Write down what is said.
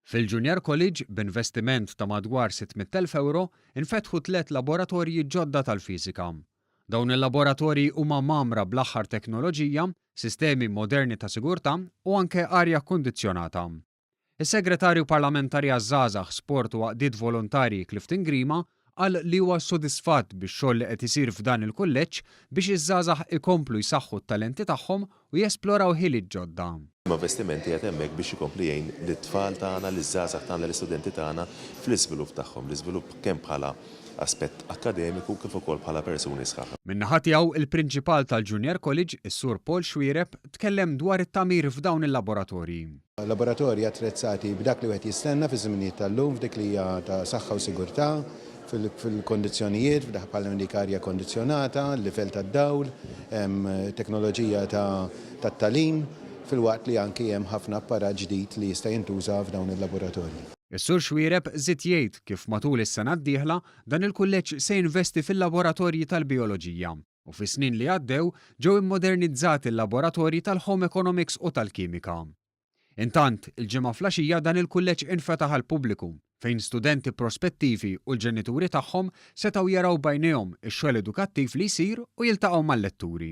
Fil-Junior College, b'investiment ta' madwar 600,000 ewro, infetħu tliet laboratorji ġodda tal-fiżika. Dawn il-laboratorji huma mgħammra bl-aħħar teknoloġija, sistemi moderni ta' sigurtà u anke arja kkundizzjonata. Is-Segretarju Parlamentari għaż-Żgħażagħ, Sport u Għaqdiet Volontarji Clifton Grima qal li huwa sodisfatt bix-xogħol li qed isir f'dan il-kulleġġ biex iż-żgħażagħ ikomplu jsaħħu t-talenti tagħhom u jesploraw ħiliet ġodda. Investimenti qiegħed hemmhekk biex ikompli jgħin lit-tfal tagħna, liż-żgħażagħ tagħna, l-istudenti tagħna fl-iżvilupp tagħhom, l-iżvilupp kemm bħala aspett akkademiku kif ukoll bħala persuni sħaħ. Min-naħa tiegħu, il-Prinċipal tal-Junior College, is-Sur Paul Xuereb, tkellem dwar it-tagħmir f'dawn il-laboratorji. Laboratorji attrezzati b'dak li wieħed jistenna fiż-żminijiet tal-lum f'dik li hija ta' saħħa u sigurtà, fil-kondizzjonijiet, f'dak bħal hemm dik arja kondizzjonata, livell tad-dawl, teknoloġija tat-tagħlim, filwaqt li anki hemm ħafna apparat ġdid li jista' jintuża f'dawn il-laboratorji. Is-Sur Xuereb żied jgħid kif matul is-sena d-dieħla dan il-kulleġġ se jinvesti fil-laboratorji tal-bijoloġija. u fis-snin li għaddew ġew immodernizzati l-laboratorji tal-Home Economics u tal-Kimika. Intant, il-Ġimgħa flaxija dan il-kulleġġ infetaħ għall-pubbliku, fejn studenti prospettivi u l-ġenituri tagħhom setgħu jaraw b'għajnejhom ix-xogħol edukattiv li jsir u jiltaqgħu mal-letturi.